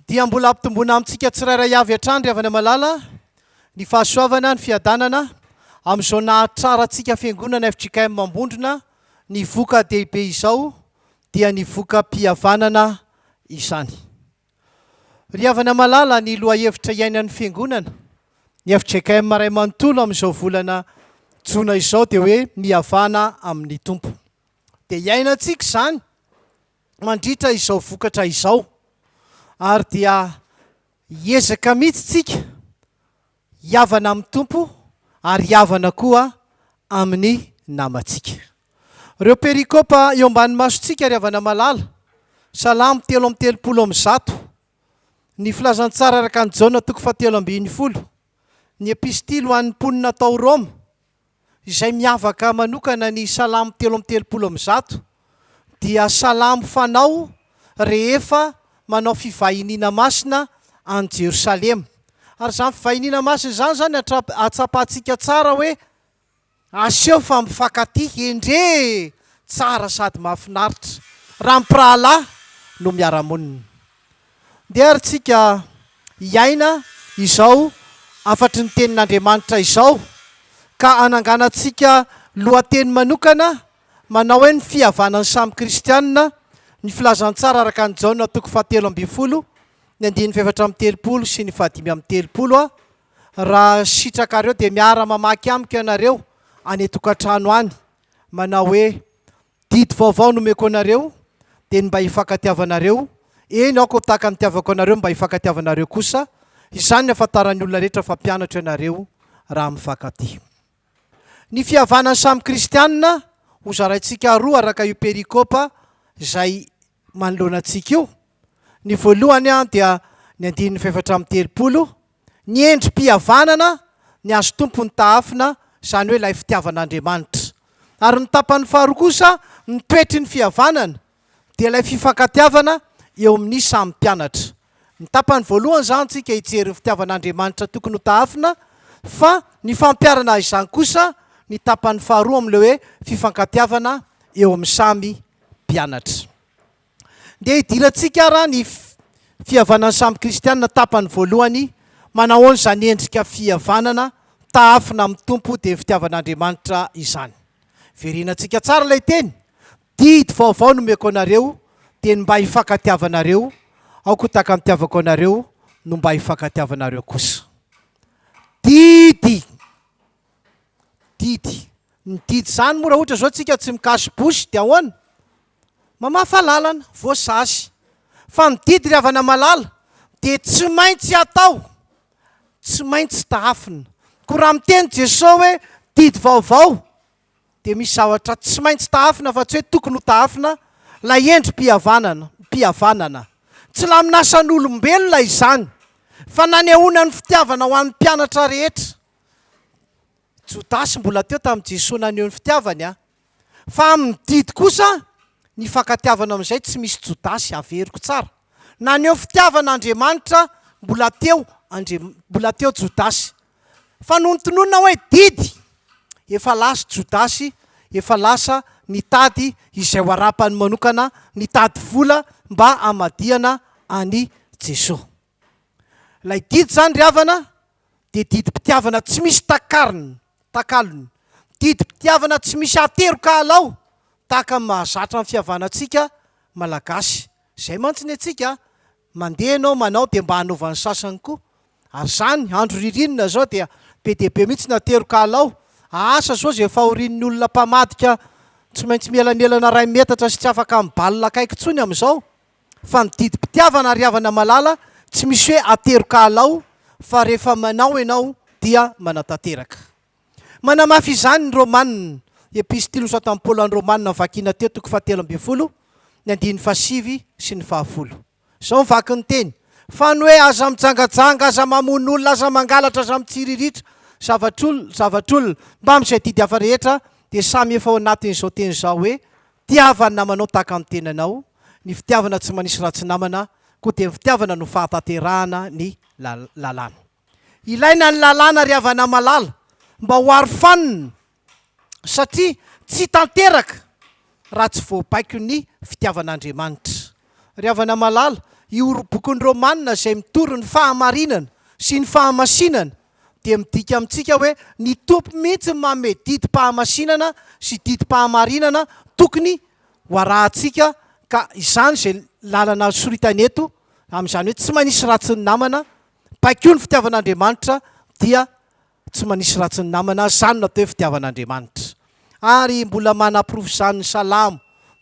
dia mbola hampitomboana amintsika tsirairay avy hatrany ry havana malala ny fahasoavana, ny fiadanana amin'izao nahatrarantsika fiangonana fjkm Ambondrona ny voka dehibe izao dia ny vokam-pihavanana izany. Ry havana malala ny lohahevitra iainan'ny fiangonana ny fjkm ray manontolo amin'izao volana jona izao dia hoe mihavana amin'ny Tompo. dia iainantsika izany mandritra izao vokatra izao ary dia hiezaka mihitsy tsika hiavana amin'ny Tompo ary hiavana koa amin'ny namantsika. Ireo perikopa eo ambany masontsika ry havana malala, Salamo telo amby telopolo amin'ny zato, ny filazantsara araka an'i Jaona toko fahatelo ambin'ny folo, ny epistily ho an'ny mponina tao Roma, izay miavaka manokana ny Salamo telo amby telopolo amby zato dia salamo fanao rehefa manao fivahiniana masina any Jerosalema. Ary izany fivahiniana masina izany izany atsapantsika tsara hoe aseho fa mifankatia, endrey e! tsara sady mahafinaritra raha mpirahalahy no miara-monina. Ndeharintsika hiaina izao hafatry ny Tenin'Andriamanitra izao, ka hananganantsika lohateny manokana manao hoe Ny Fihavanan'ny Samy Kristianina, Ny Filazantsara araka an'i Jaona toko fahatelo ambin'ny folo, ny andininy fahefatra amby telopolo sy ny fahadimy amby telopolo a Raha sitrakareo, dia miara-mamaky amiko ianareo any an-tokantrano any, manao hoe Didy vaovao nomeko anareo dia ny mba hifankatiavanareo, eny aho koa tahaka ny nitiavako anareo ny mba hifankatiavanareo kosa, izany ny hahafantaran'ny olona rehetra fa mpianatro ianareo raha mifankatia. Ny fihavanan'ny samy kristianina hozaraintsika roa araka io perikopa izay manoloana antsika io. Ny voalohany dia ny andininy fahefatra amby telopolo, ny endri-pihavanana ny azo tompon'ny tahafina, izany hoe ilay fitiavan'Andriamanitra. Ary ny tapany faharoa kosa, ny toetry ny fihavanana, dia ilay fifankatiavana eo amin'ny samy mpianatra. Ny tapany voalohany izany tsika hijery ny fitiavan'Andriamanitra tokony ho tahafina, fa ny fampiharana izany kosa ny tapany faharoa amin'ilay hoe fifankatiavana eo amin'ny samy mpianatra. Ndeha hidirantsika ara ny fihavanan'ny samy kristiana tapany voalohany, manahoana izany endrika fihavanana taafina amin'ny Tompo dia fitiavan'Andriamanitra izany. Verenantsika tsara ilay teny, didy vaovao nomeko anareo dia ny mba hifankatiavanareo, aoko tahaka ny tiavako anareo no mba hifankatiavanareo kosa. Didy! Didy! Ny didy izany moa raha ohatra izao tsika tsy mikasy bouche dia ahoana? Mamafa lalana, voasasy. Fa ny didy ry havana malala dia tsy maintsy atao, tsy maintsy tahafina. Koa raha miteny Jesoa hoe didy vaovao dia misy zavatra tsy maintsy tahafina fa tsy hoe tokony ho tahafina, ilay endri-pihavanana, mpihavanana. Tsy laminasan'olombelona izany fa nanehoana ny fitiavana ho an'ny mpianatra rehetra. Jodasy mbola teo tamin'i Jesoa naneho ny fitiavany an! Fa amin'ny didy kosa ny fankatiavana amin'izay tsy misy Jodasy averiko tsara. Naneho fitiavana Andriamanitra mbola teo Andri mbola teo Jodasy. Fa nony tononina hoe didy, efa lasa Jodasy, efa lasa nitady izay ho arapany manokana, nitady vola mba hamadihana an'i Jesoa. Ilay didy izany ry havana dia didim-pitiavana tsy misy takarony, takalony. Didim-pitiavana tsy misy ateroka alao tahaka ny mahazatra ny fihavanantsika Malagasy. Izay mantsy ny antsika, mandeha ianao manao dia mba hanaovan'ny sasany koa. Ary izany, andro ririnina izao dia be dia be mihitsy ny ateroka alao. Asa sao izay fahorian'ny olona mpamadika tsy maintsy mielamelana iray metatra sy tsy afaka mibalina akaiky intsony amin'izao? Fa ny didim-pitiavana ry havana malala tsy misy hoe ateroka alao fa rehefa manao ianao dia manatanteraka. Manamafy izany ny Romanina, Epistilos ad an Paul an'i Romanina vakina teo toko fahatelo ambin'ny folo, ny andininy fahasivy sy ny fahafolo. Izao ny vaky ny teny, Fa ny hoe aza mijangajanga, aza mamono olona, aza mangalatra, aza mitsiriritra, zavatr'olona, zavatr'olona, mbamin'izay didy hafa rehetra dia samy efa ao anatin'izao teny izao hoe Tiava ny namanao tahaka ny tenanao, ny fitiavana tsy manisy ratsy namana, koa dia ny fitiavana no fahatanterahana ny lalàna. Ilaina ny lalàna ry havana malala mba ho arofanina satria tsy tanteraka raha tsy voabaiko ny fitiavan'Andriamanitra. Ry havana malala, io bokin'i Romana izay mitory ny fahamarinana sy ny fahamasinana dia midika amintsika hoe ny Tompo mihitsy no manome didim-pahamasinana sy didim-pahamarinana tokony ho arahantsika ka izany izay lalana soritany eto amin'izany hoe tsy manisy ratsy ny namana, baiko ny fitiavan'Andriamanitra dia tsy manisy ratsy ny namana, izany no atao hoe fitiavan'Andriamanitra. Ary mbola manaporofo izany ny Salamo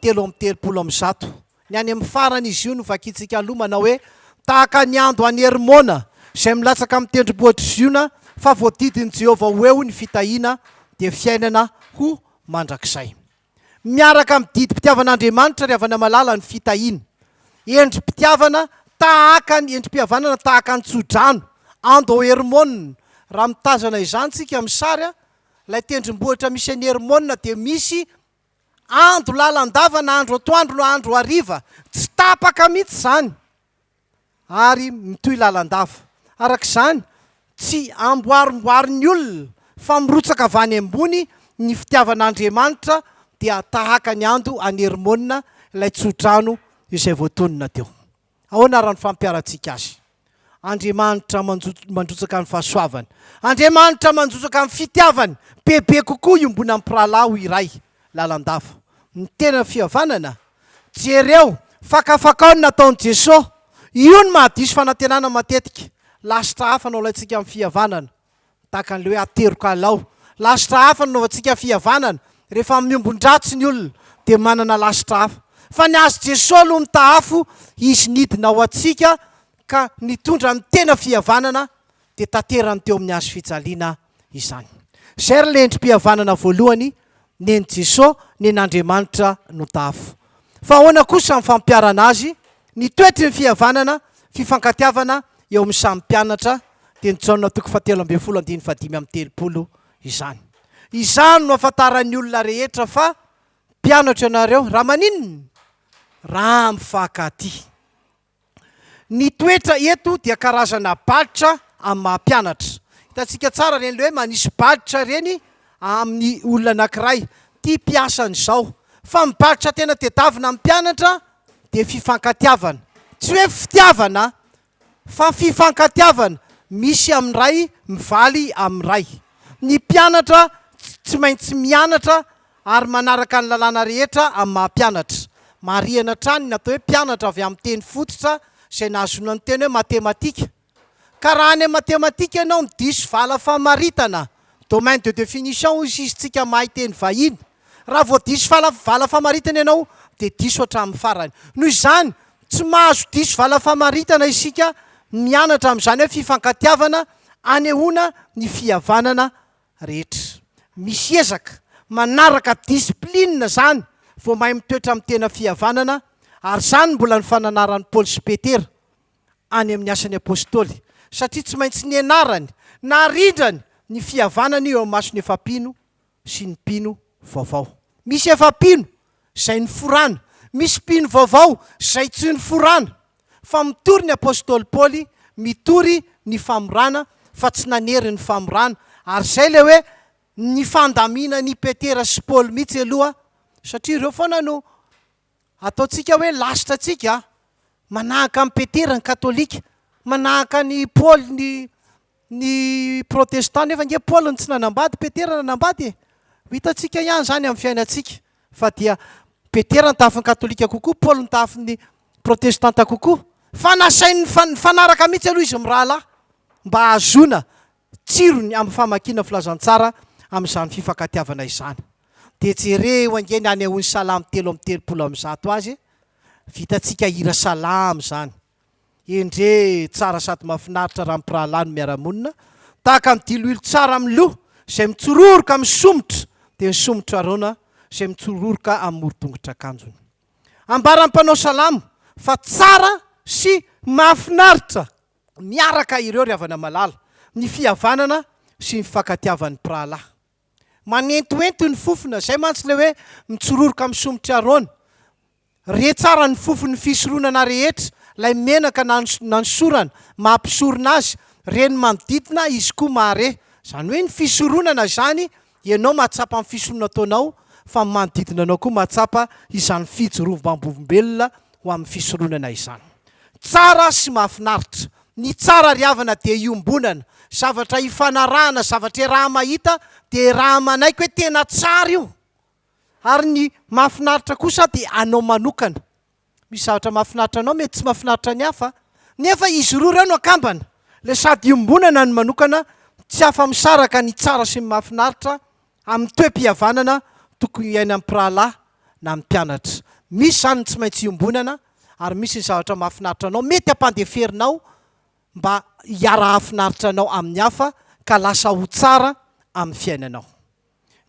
telo amby telopolo amin'ny zato. Ny any amin'ny farany izy io no vakintsika aloha manao hoe, Tahaka ny ando an'i Hermona, izay milatsaka amin'ny tendrombohitr'i Ziona, fa voadidin'i Jehovah ho eo ny fitahiana, dia fiainana ho mandrakizay. Miaraka amin'ny didim-pitiavan'Andriamanitra ry havana malala ny fitahiana. Endri-pitiavana tahaka ny endri-pihavanana tahaka ny tsodrano, ando ao Hermona. Raha mitazana izany isika amin'ny sary, ilay tendrombohitra misy an'i Hermona dia misy Ando lalandava na andro atoandro na andro hariva, tsy tapaka mihitsy izany ary mitohy lalandava. Araka izany, tsy amboarimboarin'ny olona fa mirotsaka avy any ambony ny fitiavan'Andriamanitra dia tahaka ny ando any Hermona ilay tsodrano izay voatonona teo. Ahoana ary no fampiharantsika Azy? Andriamanitra manjo- mandrotsaka ny fahasoavany. Andriamanitra manjotsaka ny fitiavany. Bebe kokoa iombonan'ny mpirahalahy ho iray, lalandava. Ny tena fihavanana? Jereo, fakafakao ny nataon'i Jeso. Io no mahadiso fanantenana matetika. Lasitra hafa no alaintsika amin'ny fihavanana. Tahaka an'ilay hoe ateroka alao. Lasitra hafa no anaovantsika fihavanana. Rehefa miombon-dratsy ny olona dia manana lasitra hafa. Fa ny azy Jesoa aloha mitaha afo, Izy nidina ho antsika ka nitondra ny tena fihavanana dia tanterany teo amin'ny hazo fijaliana izany. Izay ary ilay endri-pihavanana voalohany nen'i Jeso nen'Andriamanitra no tafo. Fa ahoana kosa ny fampiarana azy? Ny toetry ny fihavanana, fifankatiavana eo amin'ny samy mpianatra, teny Jaona toko fahatelo ambin'ny folo andininy fahadimy amby telopolo, izany. Izany no ahafantaran'ny olona rehetra fa mpianatro ianareo raha maninona? Raha mifankatia. Ny toetra eto dia karazana balitra amin'ny maha mpianatra. Hitantsika tsara ireny ilay hoe manisy balitra ireny amin'ny olona anankiray. Ity mpiasany izao. Fa ny balitra tena tedavina amin'ny mpianatra dia fifankatiavana. Tsy hoe fitiavana fa fifankatiavana misy amin'ny ray mivaly amin'ny ray. Ny mpianatra tsy maintsy mianatra. ary manaraka ny lalàna rehetra amin'ny maha mpianatra. Marihana hatrany ny atao hoe mpianatra avy amin'ny teny fototra izay nahazoana ny teny hoe matematika. Ka raha any amin'ny matematika ianao no diso vala famaritana, domaine de définition hoy sisintsika mahay teny vahiny, raha vao diso vala vala famaritana ianao dia diso hatramin'ny farany. Noho izany, tsy mahazo diso vala famaritana isika mianatra amin'izany hoe fifankatiavana anehoana ny fihavanana rehetra. Misy ezaka manaraka discipline zany vao mahay mitoetra amin'ny tena fihavanana ary zany mbola ny fananaran'i Paoly sy Petera any amin'ny Asan'ny Apostoly satria tsy maintsy nianarany, narindrany ny fihavanana io eo amin'ny mason'ny efa-mpino sy ny mpino vaovao. Misy efa-mpino izay niforana. Misy mpino vaovao izay tsy niforana, fa mitory ny apostoly Paoly, mitory ny famorana fa tsy nanery ny famorana. Ary izay ilay hoe ny fandaminany i Petera sy Paoly mihitsy aloha, satria ireo foana no ataontsika hoe lasitra antsika, manahaka an'i Petera ny katolika, manahaka an'i Paoly ny Ny protestant nefa ange Paul no tsy nanambady, Petera nanambady e! Ho hitantsika ihany izany amin'ny fiainantsika fa dia Petera nitafy ny katolika kokoa, Paul nitafy ny protestanta kokoa. Fa nasainy nifanaraka mihitsy aloha izy mirahalahy mba hahazoana tsirony amin'ny famakiana filazantsara amin'izany fifankatiavana izany. Dia jereo ange ny hanehoan'ny salamo telo amby telopolo amin'ny zato azy e! Vitantsika hira salamo izany. Endrey tsara sady mafinaritra raha mpirahalahy no miara-monina, tahaka ny diloilo tsara amin'ny loha izay mitsororoka amin'ny somotra dia ny somotra Arona izay mitsororoka amin'ny moron-tongotr'akanjony. Ambaran'ny mpanao salamo fa tsara sy mahafinaritra miaraka ireo ry havana malala, ny fihavanana sy ny fifankatiavan'ny mpirahalahy. Manentoento ny fofona, izay mantsy ilay hoe mitsororoka amin'ny somotr'i Arona. Re tsara ny fofon'ny fisoronana rehetra, ilay menaka na nanosorana, maha mpisorona azy, re ny manodidina, izy koa mahare. Izany hoe ny fisoronana izany, ianao mahatsapa ny fisoronana ataonao, fa ny manodidina anao koa mahatsapa izany fijorovam-bolombelona ho amin'ny fisoronana izany. Tsara sy mahafinaritra. Ny tsara ry havana dia iombonana, zavatra ifanarahana, zavatra iaraha-mahita dia iaraha-manaiky hoe tena tsara io. Ary ny mahafinaritra kosa dia anao manokana. Misy zavatra mahafinaritra anao mety tsy mahafinaritra ny hafa, nefa izy roa ireo no akambana. Ilay sady iombonana ny manokana tsy afa-misaraka ny tsara sy ny mahafinaritra amin'ny toe-pihavanana tokony iainan'ny mpirahalahy na ny mpianatra. Misy izany ny tsy maintsy iombonana ary misy ny zavatra mahafinaritra anao mety hampandeferinao mba hiara-hahafinaritra anao amin'ny hafa ka lasa ho tsara amin'ny fiainanao.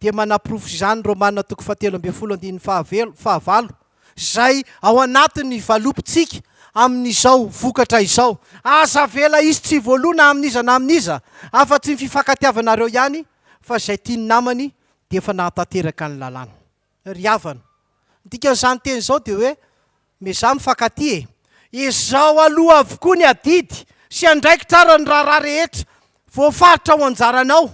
dia manaporofo izany ny Romana toko fahatelo ambin'ny folo andininy fahavalo, izay ao anatin'ny valopintsika amin'izao vokatra izao. Aza avela hisy tsy voaloa na amin'iza na amin'iza, afa-tsy ny fifankatiavanareo ihany, fa izay tian'ny namany dia efa nahatanteraka ny lalàna. ry havana. Ny dikan'izany teny izao dia hoe miezaha mifankatia e! Ezaho aloha avokoa ny adidy sy andraikitra ara ny raharaha rehetra voafaritra ho anjaranao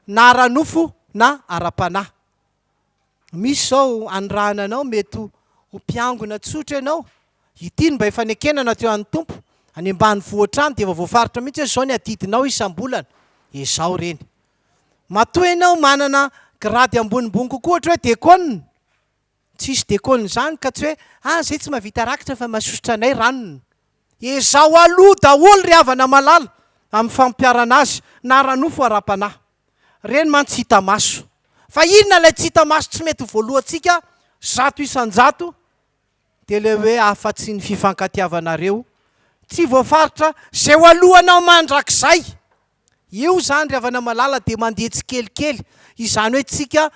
na ara-nofo na ara-panahy. Misy izao anirahana anao mety ho ho mpiangona tsotra ianao, ity no mba efa nekena na teo an'ny Tompo, any ambanivohitra any dia efa voafaritra mihitsy hoe izao ny adidinao isam-bolana, ezaho ireny. Matoa ianao manana grady ambonimbony kokoa ohatra hoe dekôna, tsisy dekôna izany ka tsy hoe ah zay tsy mahavita rakitra fa masosotra anay ranony. Ezaho aloha daholo ry havana malala amin'ny fampiharana azy na ara-nofo ara-panahy. Ireny mantsy tsy hita maso. Fa inona ilay tsy hita maso tsy mety ho voalohantsika zato isan-jato? Dia ilay hoe afa-tsy ny fifankatiavanareo tsy voafaritra izay ho alohanao mandrakizay. Eo izany ry havana malala dia mandeha tsikelikely izany hoe tsika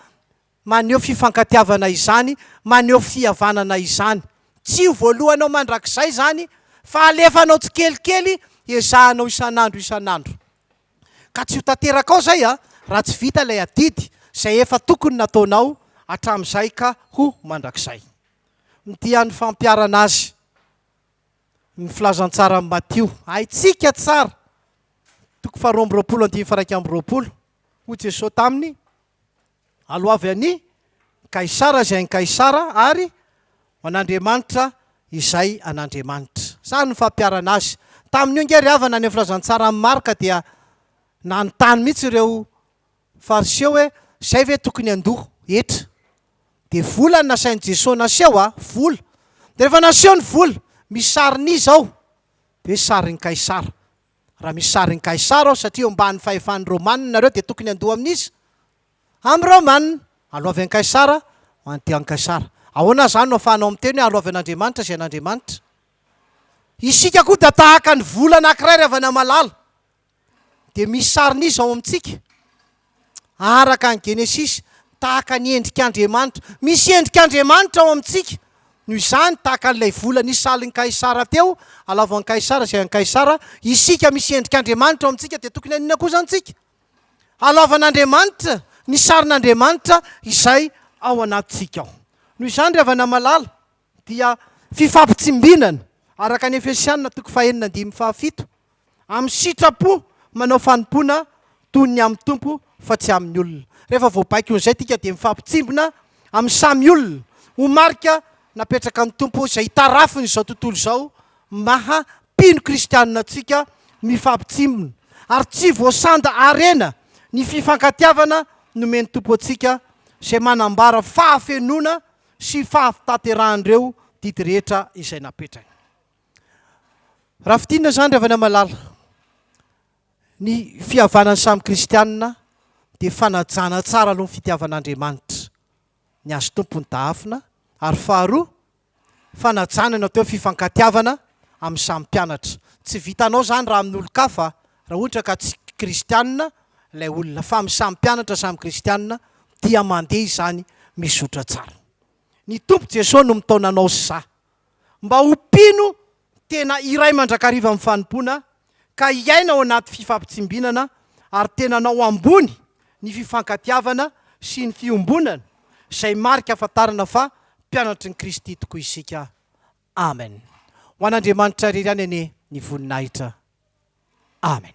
maneho fifankatiavana izany, maneho fihavanana izany. Tsy ho voalohanao mandrakizay izany fa alefanao tsikelikely ezahanao isan'andro isan'andro. Ka tsy ho tanterakao izay a! raha tsy vita ilay adidy izay efa tokony nataonao hatramin'izay ka ho mandrakizay. Ny dian'ny fampiharana azy. Ny filazantsaran'i Matio, haintsika tsara, toko faharoa amby roapolo andininy faha iraika amby roapolo, Hoy Jesosy taminy, Aloavy an'i Kaisara izay an'i Kaisara, ary ho an'Andriamanitra izay an'Andriamanitra. Izany no fampiharana azy. Tamin'io ange ry havana, any amin'ny filazantsaran'i Marka dia nanontany mihitsy ireo Fariseo hoe, Zay ve tokony handoa hetra? Dia vola no nasain'i Jesoa naseho a! Vola! Dia rehefa naseho ny vola, misy sarin'iza ao? Dia hoe, Sarin'i Kaisara. Raha misy sarin'i Kaisara ao, satria eo ambanin'ny fahefan'ny Romanina nareo, dia tokony handoa amin'iza? Amin'ny Romanina. Aloavy an'i Kaisara, mandihy an'i Kaisara. Ahoana izany no ahafahanao miteny hoe aloavy an'Andriamanitra izay an'Andriamanitra? Isika koa dia tahaka ny vola anankiray ry havana malala. dia misy sarin'izy ao amintsika araka ny genesisy tahaka ny endrik'Andriamanitra. Misy endrik'Andriamanitra ao amintsika. Noho izany, tahaka an'ilay vola nisy salin'i Kaisara teo, alavo an'i Kaisara izay an'i Kaisara, isika misy endrik'Andriamanitra ao amintsika dia tokony haninona kosa antsika? Halaovan'Andriamanitra ny sarin'Andriamanitra izay ao anatintsika ao. Noho izany ry havana malala, dia fifampitsimbinana, araka ny Efesiana toko fahenina andininy fahafito, amin'ny sitrapo manao fanompoana toy ny amin'ny Tompo fa tsy amin'ny olona. Rehefa voabaikon'izay isika dia mifampitsimbina amin'ny samy olona ho marika napetrakan'ny Tompo izay itarafin'izao tontolo izao maha mpino kristianina antsika mifampitsimbina ary tsy voasanda harena ny fifankatiavana nomen'ny Tompo antsika izay manambara fahafenoana sy fahataterahan'ireo didy rehetra izay napetrany. Raha fintinina izany ry havana malala, ny fihavanan'ny samy kristianina dia fanajana tsara aloha ny fitiavan'Andriamanitra ny azy tompony dahafina ary faharoa fanajana ny atao hoe fifankatiavana amin'ny samy mpianatra. Tsy vitanao izany raha amin'olon-kafa Raha ohatra ka tsy kristianina ilay olona fa samy mpianatra samy kristianina dia mandeha izany mizotra tsara. Ny Tompo Jesoa no mitaona anao sy za mba ho mpino tena iray mandrakariva amin'ny fanompoana ka hiaina ao anaty fifampitsimbinana ary tenanao ambony ny fifankatiavana sy ny fiombonana izay marika ahafantarana fa mpianatry ny Kristy tokoa isika. Amen Ho an'Andriamanitra irery ihany anie ny voninahitra Amen.